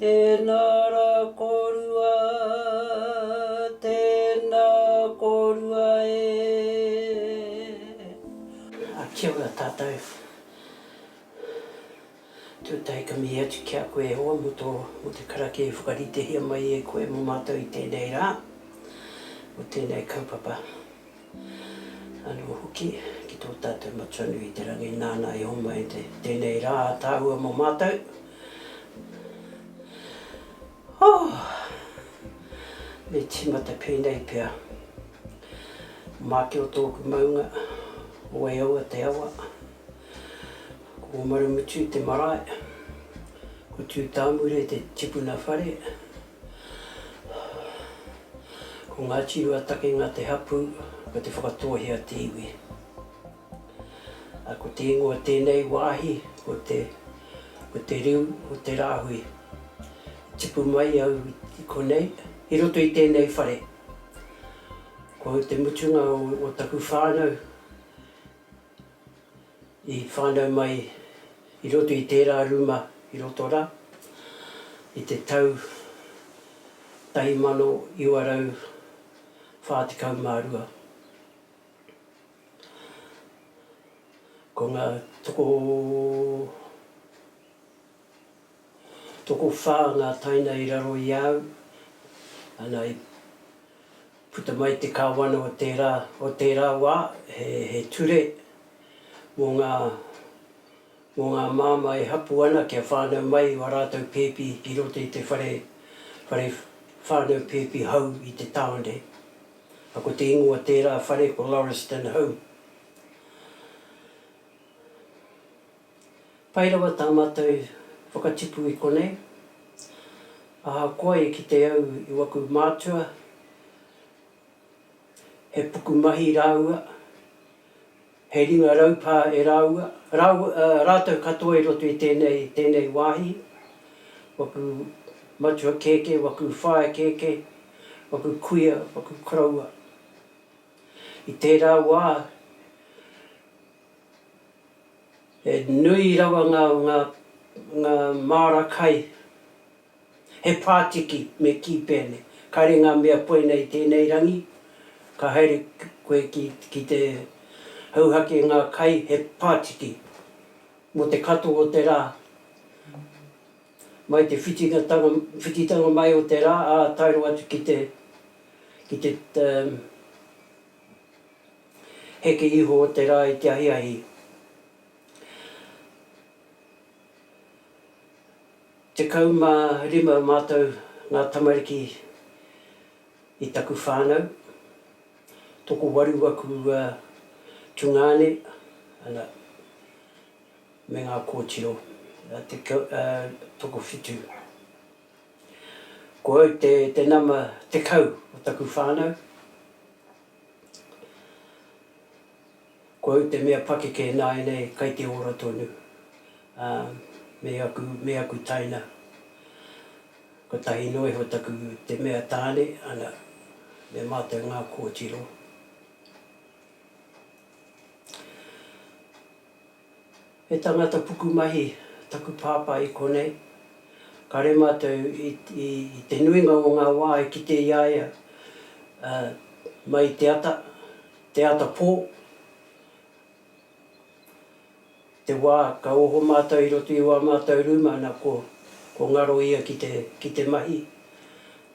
Tēnā rā kōrua, tēnā kōrua e. Ā, kia ora tātou. Tū taikami atu ki a koe e hoa mō tō, mō te karakia i whakaritehia mai e koe mō mātou i tēnei rā, mō tēnei kaupapa. Anō hoki, ki tō tātou Matua nui i te rangi nāna i homai te tēnei rā ātaahua mō mātou. Oh! Me tīmata pēnei pea. Māke o tōku maunga, wai aua te awa. Ko Marumutu te marae, ko Tūtāmure te tipuna whare. Ko Ngāti Ruatakenga te hapū, ko Te Whakatōhea te iwi. Ā, ko te ingoa o tēnei wāhi, ko te, ko te riu o te rāhui. I tipu mai au i konei, i roto i tēnei whare. Ko au te mutunga o, o taku whānau. i whānau mai i roto i tērā rūma i roto rā i te tau 1942. Ko ngā tokomaha o Te Arawa, Tokowhā ngā taina i raro i a au, ana i puta mai te Kāwana o tērā, o tērā wā, he, he ture mō ngā, mō ngā māmā e hapu ana kia whānau mai i ō rātou pēpi i roto i te whare, whare whānau pēpi hou i te tāone. A ko te ingoa tērā whare ko Lauriston Home. Pai rawa tā mātou whakatipu i konei, ahakoa i kite au i waku mātua, he pukumahi rāua, he ringa raupā e rāua, rātou katoa i roto i tēnei, tēnei wāhi, waku matua kēkē, waku whaea kēkē, waku kuia, waku koroua. I tērā wā, He nui rawa ngā, ngā, ngā māra kai, he pātiki me kī pea nei, kāre ngā mea puea nei i tēnei rangi, ka haere koe ki, ki te hauhake ngā kai, he pātiki, mō te katoa o te rā, mai te whitingatanga, whititanga mai o te rā, ā taero atu ki te, ki te, te. Heke iho te ra i te ahiahi. Tekau ma rima matou nga tamariki i taku whanau. Tokowaru aku tungane ana me nga kotiro. Tokowhitu. Ko au te nama tekau o taku whanau. Kua ū te mea pakeke e nāianei kai te ora tonu, ā, me aku, me aku taina. Kotahi noa iho taku te mea tāne, ana, me mātou ngā kōtiro. He tangata pukumahi taku pāpā i konei. Kare mātou i te nuinga o ngā wā e kite i a ia mai i te ata, te ata pō, te wā ka oho mātou i roto i wā mātou rūma na ko ngaro ia ki te mahi,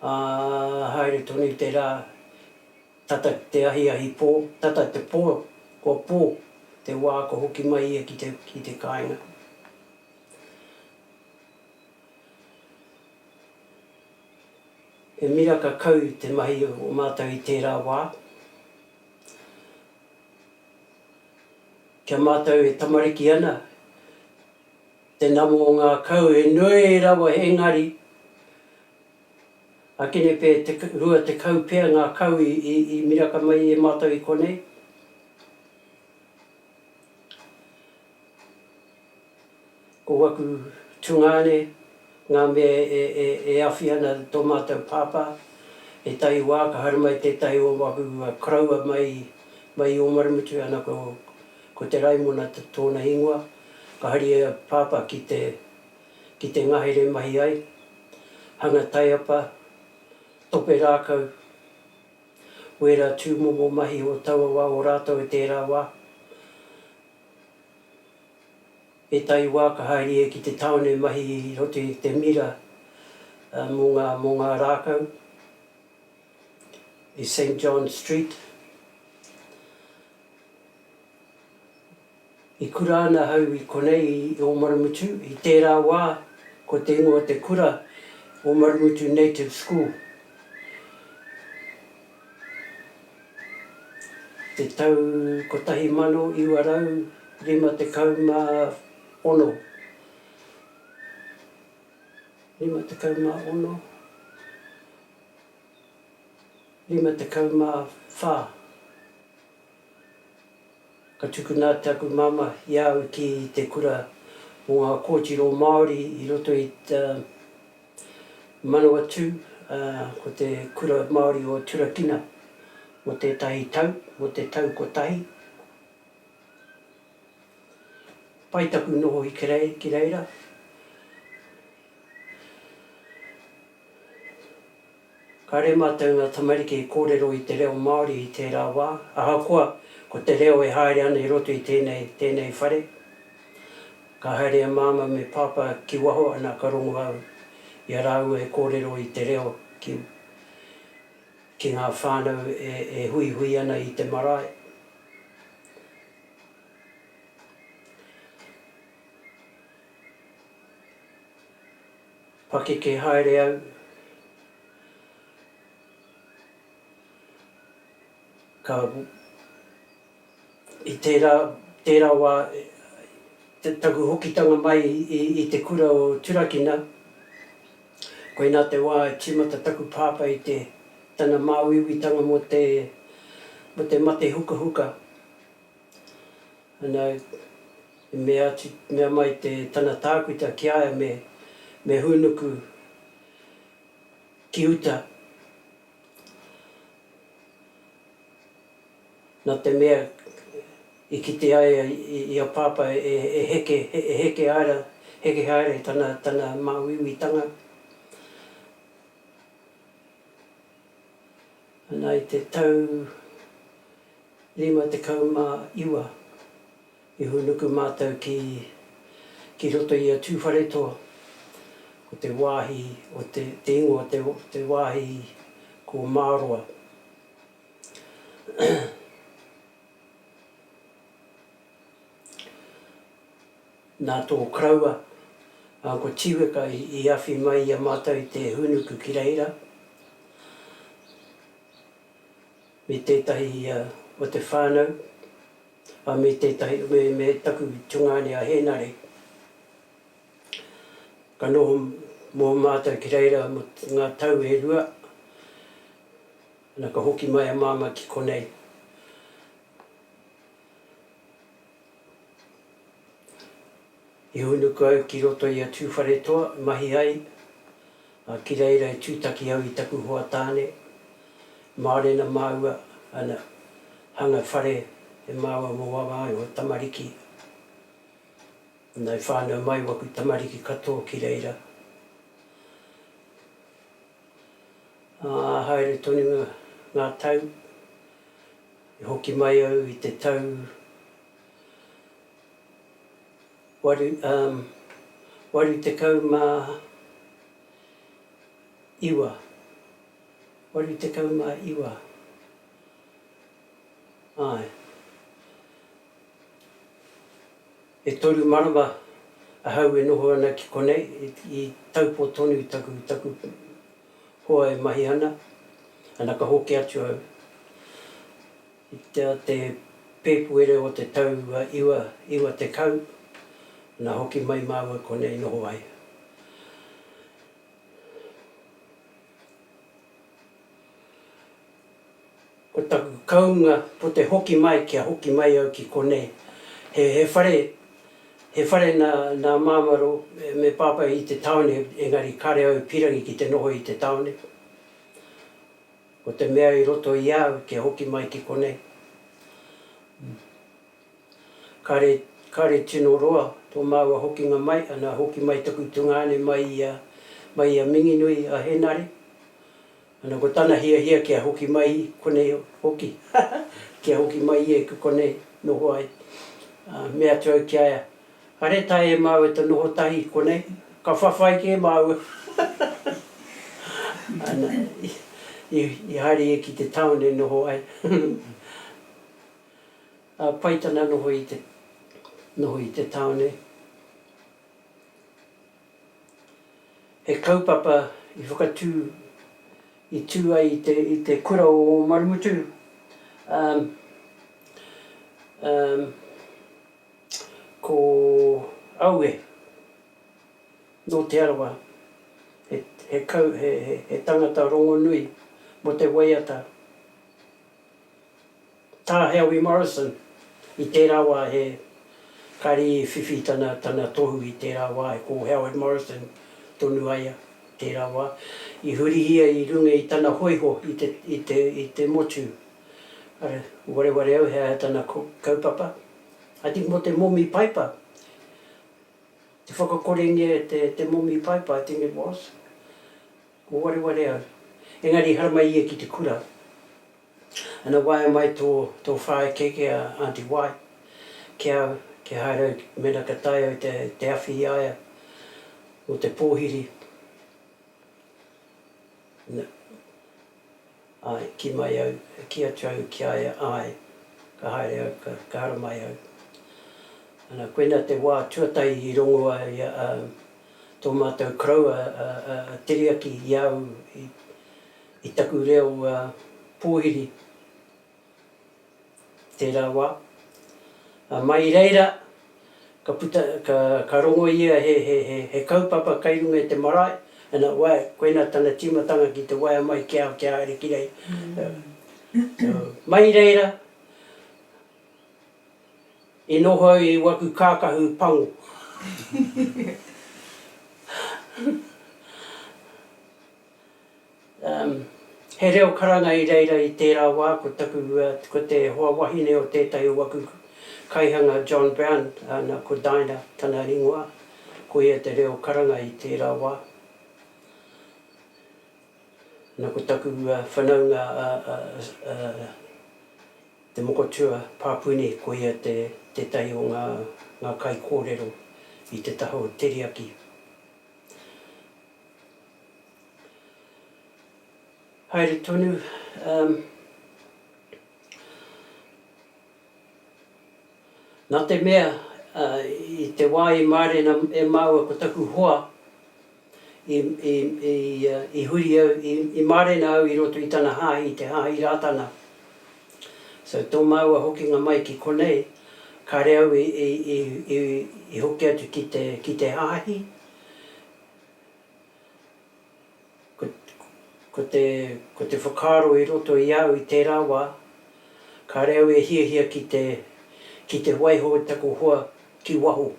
ā, haere tonu te rā Tata ki te ahiahi pō, tata te pō, kua pō te wā kua hoki mai ia ki te, ki te kāinga. He miraka kau te mahi o mātou i tērā wā. Ki a mātou e tamariki ana, te nama o ngā kau he nui rawa engari, Akenepe, te rua tekau pea ngā kau i miraka mai e mātou i konei. Ko waku tungāne, ngā mea e awhi ana tō mātou pāpā, he tahi wā ka haere mai tētahi o waku koroua mai i Ōmarumutu, ana ko Te Raimona tōna ingoa, ka haria pāpā ki te ki te ngahere mahi ai, hanga taiapa, tope rākau, wera tūmomo mahi o taua wā o rātou i tērā wā. Ētahi wā ka haere ia ki te tāone mahi i roto i te mira mō ngā, mō ngā rākau i Saint John Street. I kura ana ahau i konei i Ōmarumutu, i tērā wā ko te ingoa o te kura Ōmarumutu Native School. I te tau 1956, 56? 54? Ka tukuna atu aku māmā i a au ki te kura mō ngā kōtiro Māori i roto i te Manawatū, ā, ko te Kura Māori o Turakina mō tētahi tau, mō te tau kotahi. Pai taku noho i Kerei, ki reira. Kāre mātou ngā tamariki i kōrero i te reo Māori i tērā wā, ahakoa ko te reo e haere ana i roto i tēnei, tēnei whare. Ka haere a Māma me Pāpā ki waho ana ka rongo au i a rāua e kōrero i te reo ki, ki ngā whānau e, e huihui ana i te marae. Pakeke haere au ka i tērā tērā wā taku hokitanga mai i te kura o Turakina koinā te wā i tīmata taku pāpā i te tana māuiuitanga mō te mate hukahuka Ana, i mea atu, mea mai te, tana tākuta ki a ia me, me hūnuku ki uta, nā te mea i kitea ia i a Pāpā e, e heke, e heke haere, heke haere i tana, tana māuiuitanga. Ana, i te tau. 59. I hūnuku mātou ki, ki roto i a Tūwharetoa, ko te wāhi o te, te ingoa o te, te wāhi ko Māroa. Nā tō karaua, a, ko Tīweka i, i awhi mai i a mātou i te hūnuku ki reira. Me tētahi o te whānau, ā, me tētahi, me, me taku tungāne a Hēnare. Ka noho mō mātou ki reira mō ngā tau e rua, nā, ka hoki mai a Māmā ki konei. I hūnuku au ki roto i a Tūwharetoa e mahi ai, ā, ki reira i tūtaki au i taku hoa tāne. Mārena māua ana hanga whare e māua mō wawa ai ō tamariki. Nā, i whānau mai waku tamariki katoa ki reira. Ā, haere tonu ngā tau, i hoki mai au i te tau. 89. 89. Āe. E toru marama ahau e noho ana ki konei, i taupō tonu taku, taku hoa e mahi ana, ana ka hoki atu au. I te o te Pēpuere o te tau iwa, iwa tekau, na hoki mai māua konei noho ai. Ko taku kaunga ko te hoki mai kia hoki mai au ki konei. He, he whare, he whare na, na Māmaro me Pāpai i te taone engari kare au i pirangi ki te noho i te taone. Ko te mea i roto i a au te hoki mai ki konei, kare, kare tino roa to maua hokinga mai, ana hoki mai taku tungane mai i a, mai i a Minginui a Henare, ana ko tana hiahia kia hoki mai i konei hoki, haha, kia hoki mai ia i konei noho ai. Aa, mea atu au ki a ia, Kare tae e māu e te noho tahi konei, ka whawhai kē māua. Ana, i haere ia ki te town e noho ai. Ā, pai tana noho i te, noho i te town nei. He kaupapa i whakatū, i tū ai i te, i te kura o Ōmarumutu, ā, ā, Ko Aue, nō Te Arawa, he kau, he tangata rongonui mō te waiata. Tā Heawi Morrison, i tērā wā he, kāre i whiwhi tana, tana tohu i tērā wā, ko Howard Morrison tonu a ia tērā wā, i hurihia i runga i tana hōiho i te, i te, i te motu. Arā, wareware au he aha tana kaupapa. I think mo te momi paipa, te whakakorengia e te te momi paipa I think it was, ko wareware au. Engari hara mai ia ki te kura. Ana waea mai to to whaeke ki a Aunty Wai ki au kia haere au mena ka tae au te te awhi i a ia mo te pohiri. Na. Āe, kī mai au, e kī atu au ki a ia, Āe, ka haere au, ka, ka haramai au. Ana, koina te wā tuatahi i rongo a ia, a, tō mātou koroua, a, a, a Teriaki i a au i, i taku reo, a, pōhiri. tērā wā. Ā, mai i reira, ka puta, ka, ka rongo ia he, he, he, he kaupapa kei runga i te marae, and it worked, koinā tana tīmatanga ki te waea mai kia, kia haere ki rei. So, mai i reira, i noho au i waku kākahu pango. Um, he reo karanga i reira i tērā wā, ko taku, uh, ko te hoa wahine o tētahi o waku kaihanga John Brown, ana, ko Dinah tana ringoa, ko ia te reo karanga i tērā wā. Ana ko taku uh, whanaunga a, a, a, te mokotua Papuni, ko ia te, tētahi o ngā, ngā kaikōrero i te taha o Teriaki. Haere tonu umm. Na te mea i te wa i marena e maua ko taku hoa i huri au i marena au i roto i tana hahi i te hahi Ratana so to maua hokinga mai ki konei kare au i hoki atu ki te hahi. Ko te whakaaro i roto i au i tērā wā, kāre au e hiahia ki te waiho i taku hoa ki waho.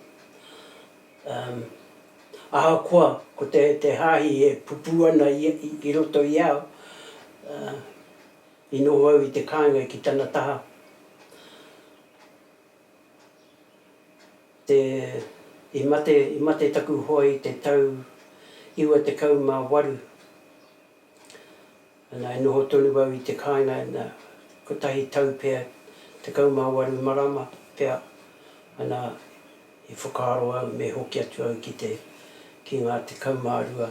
Ahakoa ko te hāhi e pupū ana i roto i au, i noho au i te kāinga ki tana taha. te, i mate, i mate taku hoa i te tau iwa tekau ma waru, ana e noho tonu au i te kainga na kotahi tau pea tekau ma waru marama pea, ana i whakaaro au me hoki atu au ki te, ki nga tekau ma rua,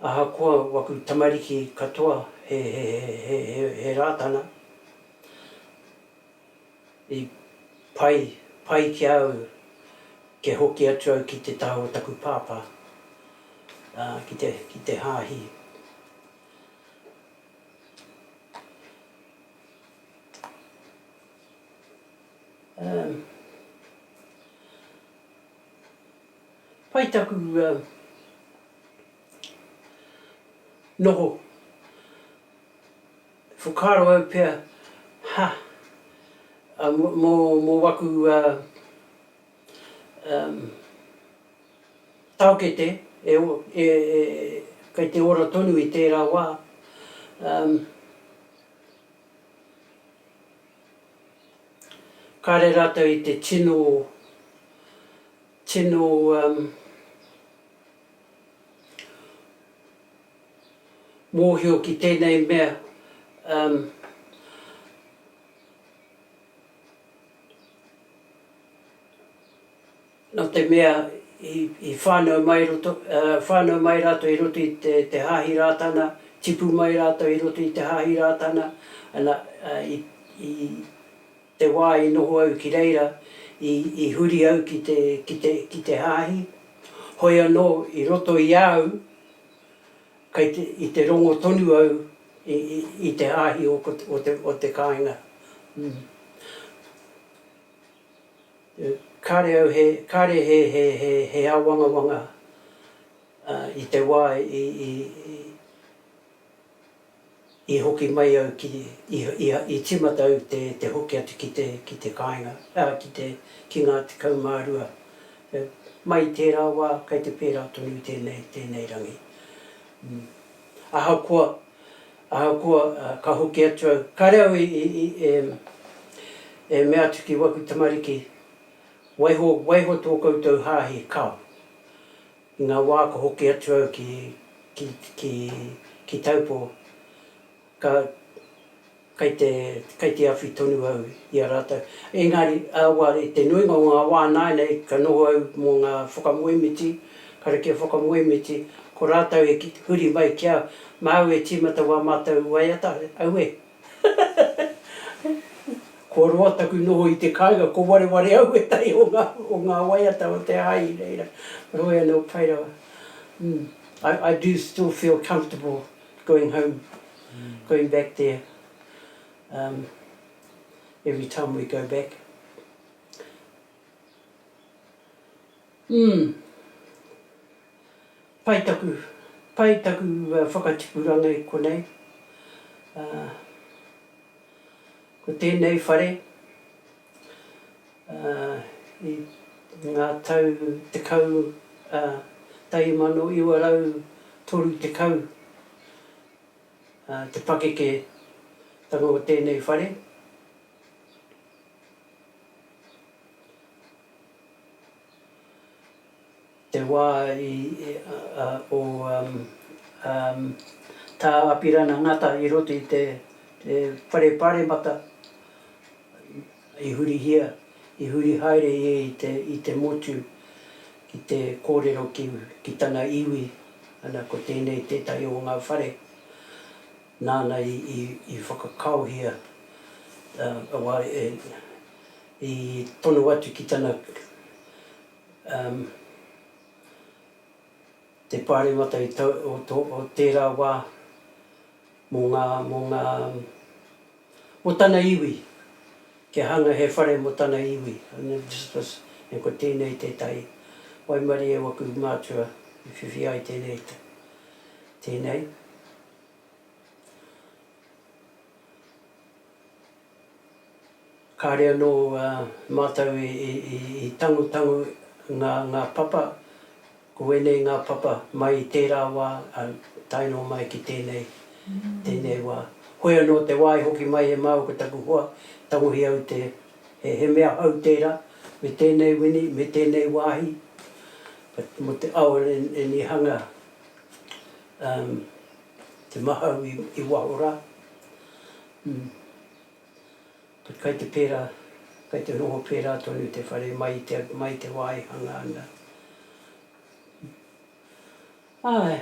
Ahakoa waku tamariki katoa he Rātana, i pai, pai ki a au kia hoki atu au ki te taha o taku Pāpā, ā, ki te, ki te Hāhi. Ā. Pai taku noho. E whakaaro au pea, ha, mo waku taokete kei te ora tonu i tera wa, kare ratou i te tino Tino mōhio ki tēnei mea nō te mea i whānau mai roto, whānau mai rātou i roto i te Hāhi Rātana, tipu mai rātou i roto i te Hāhi Rātana, ana, i, i. Te wā i noho au ki reira, i, i huri au ki te, ki te, ki te hāhi. Hoi anō, i roto i a au, kei te, i te rongo tonu au i, i, i te hāhi o, o, te, o te kāinga. Mm. Kāre au he, kāre he, he, he, he āwangawanga uh, i te wā i, i, i, I hoki mai au ki, i, i timata au te, te hoki atu ki te, ki te kāinga, ā, ki te, ki ngā tekau mā rua. Mai i tērā wā, kei te pērā tonu tēnei, tēnei rangi. Ahakoa, ahakoa, ka hoki atu au, kāre au i, i, i, e, e mea atu ki waku tamariki, Waiho, waiho tō koutou hāhi, kao. I ngā wā ka hoki atu au ki, ki, ki, ki Taupō, ka, kei te, kei te awhi tonu au i a rātou. Engari, awa, i te nuinga o ngā wā nāianei ka noho au mō ngā whakamoemiti, karakia whakamoemiti, ko rātou e huri mai ki au, māu e tīmata wā mātou waiata, aue, Kua roa taku noho i te kāinga, ko wareware au ētahi o ngā, o ngā waiata o te hāhi i reira. Heoi anō, pai rawa. I, I do still feel comfortable going home, going back there um every time we go back. Umm. Pai taku, pai taku whakatipuranga i konei. Ahh. Ko tēnei whare, ahh, i ngā tau tekau, ahh, tahi mano iwa rau toru tekau, ahh, te pakeketanga o tēnei whare. Te wā o Tā Apirana Ngata i roto i te Whare Pāremata i hurihia, i huri haere ia i te motu ki te kōrero ki tana iwi, ana ko tēnei tētahi o ngā whare nāna i whakakaohia I tono atu ki tana um te paremata i tau o to o tera wa mo nga mo nga um mo tana iwi kia hanga he whare mo tana iwi and ko tenei tetahi waimarie o aku matua i whiwhi ai tenei te tenei. Kāre anō mātou i tangotango ngā papa, ko ēnei ngā papa mai i tērā wā, tae noa mai ki tēnei, tēnei wā. Hoi anō te wā i hoki mai e māua ko taku hoa, tangohi au te, he mea hou tērā, me tēnei wini, me tēnei wāhi, mō te awa and i hanga te mahau i waho rā. Umm. But kai te pērā, kai te noho pērā tonu te whare mai i te, mai i te wā i hanga ana. Umm. Āe.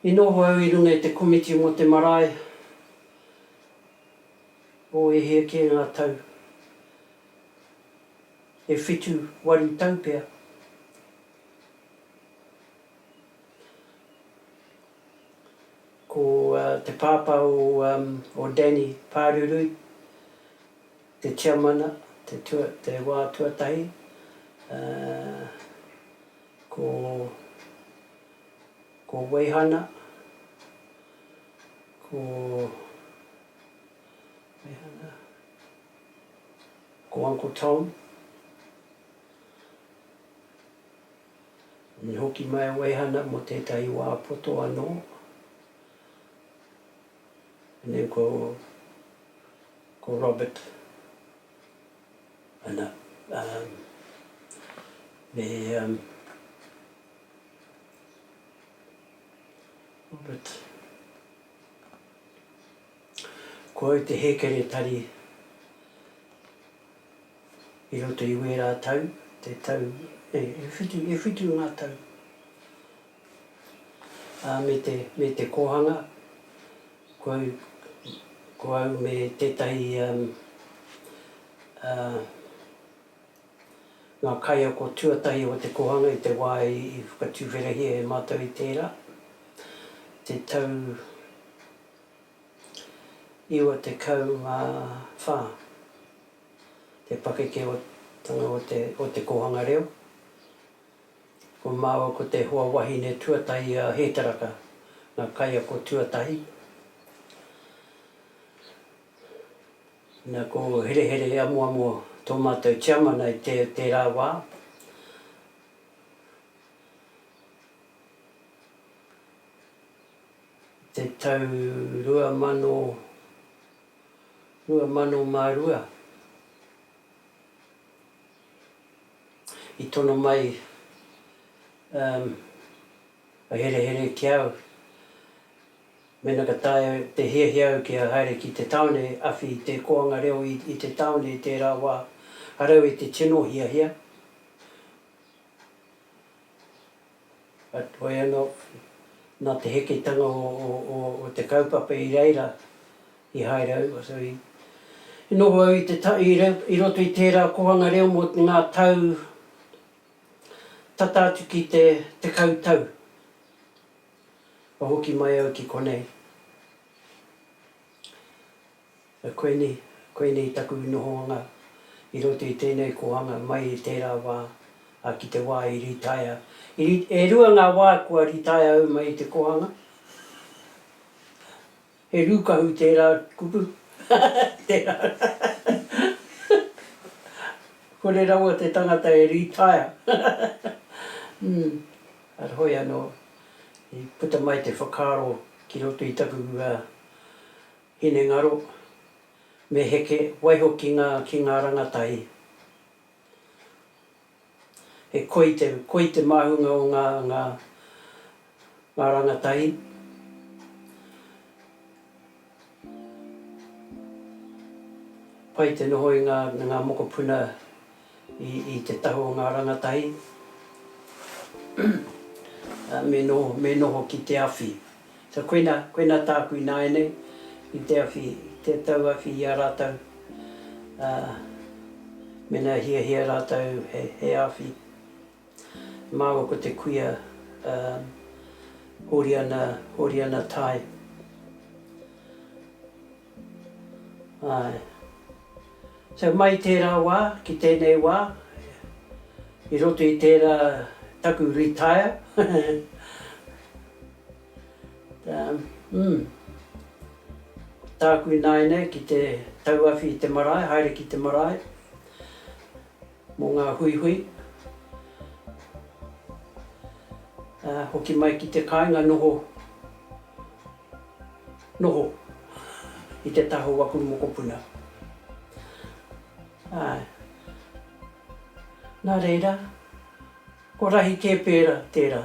I noho au i runga i te komiti mō te marae o e hia kē ngā tau, e whitu, waru tau pea. Ko te pāpā o Danny Pārurui te tiamana te wā tuatahi, ko Weihana, ko Uncle Tom. Me hoki mai o Ehana mo tetahi wa poto ano, nen ko, ko Robert, ana, um, me, um, Robert, ko au te hekeretari i roto i wērā tau, te tau, e, e whitu, e whitu ngā tau, ā, me te, me te kōhanga, ko au, ko au me tētahi, um, ā, ngā kaiako tuatahi o te kōhanga i te wā i, i whakatuwherahia e mātou i tērā, te tau, 94. Te pakekeotanga o te kōhanga reo Ko māua ko te hoa wahine tuatahi a Hētaraka, ngā kaiako tuatahi. Nā, ko Herehere Amoamo tō mātou tiamana i tērā wā. te tau 2022 i tono mai a herehere ki a au mena ka taea te hiahia au kia haere ki te taone awhi i te koanga reo i te taone i tera wa a rau i te tino hiahia. Heoi anō, nā te heketanga o te kaupapa i reira i haere au, i noho au i roto i tērā kohanga reo mō ngā tau tata atu ki te tekau tau, kua hoki mai au ki konei. Koinei, koinei taku nohoanga i roto i tēnei kōhanga mai i tērā wā, ā, ki te wā i rītaia. I ri, e rua ngā wā kua rītaia au mai i te kōhanga. He rūkahu tērā kupu, tērā. Kore rawa te tangata e rītaia. Ū, ara hoi anō, i puta mai te whakaaro ki roto i taku, ā, Hinengaro, me heke, waiho ki ngā, ki ngā rangatahi. He koi te, koi te māhunga o ngā, ngā, ngā rangatahi. Pai te noho i ngā, ngā mokopuna i te tahu o ngā rangatahi me noho ki te awhi. So koina, koina tāku ināianei i te awhi, te tauawhi i a rātou, mēnā e hiahia rātou he awhi, māua ko te kuia Hōriana, Hōriana Tai. Āe. So mai tērā wā ki tēnei wā, i roto i tērā taku retire, umm, tāku ināianei ki te tauawhi i te marae, haere ki te marae, Mō ngā huihui, ā, hoki mai ki te kāinga noho, noho i te taha o aku mokopuna. Āe. Nā reira, ko rahi kē pērā tērā.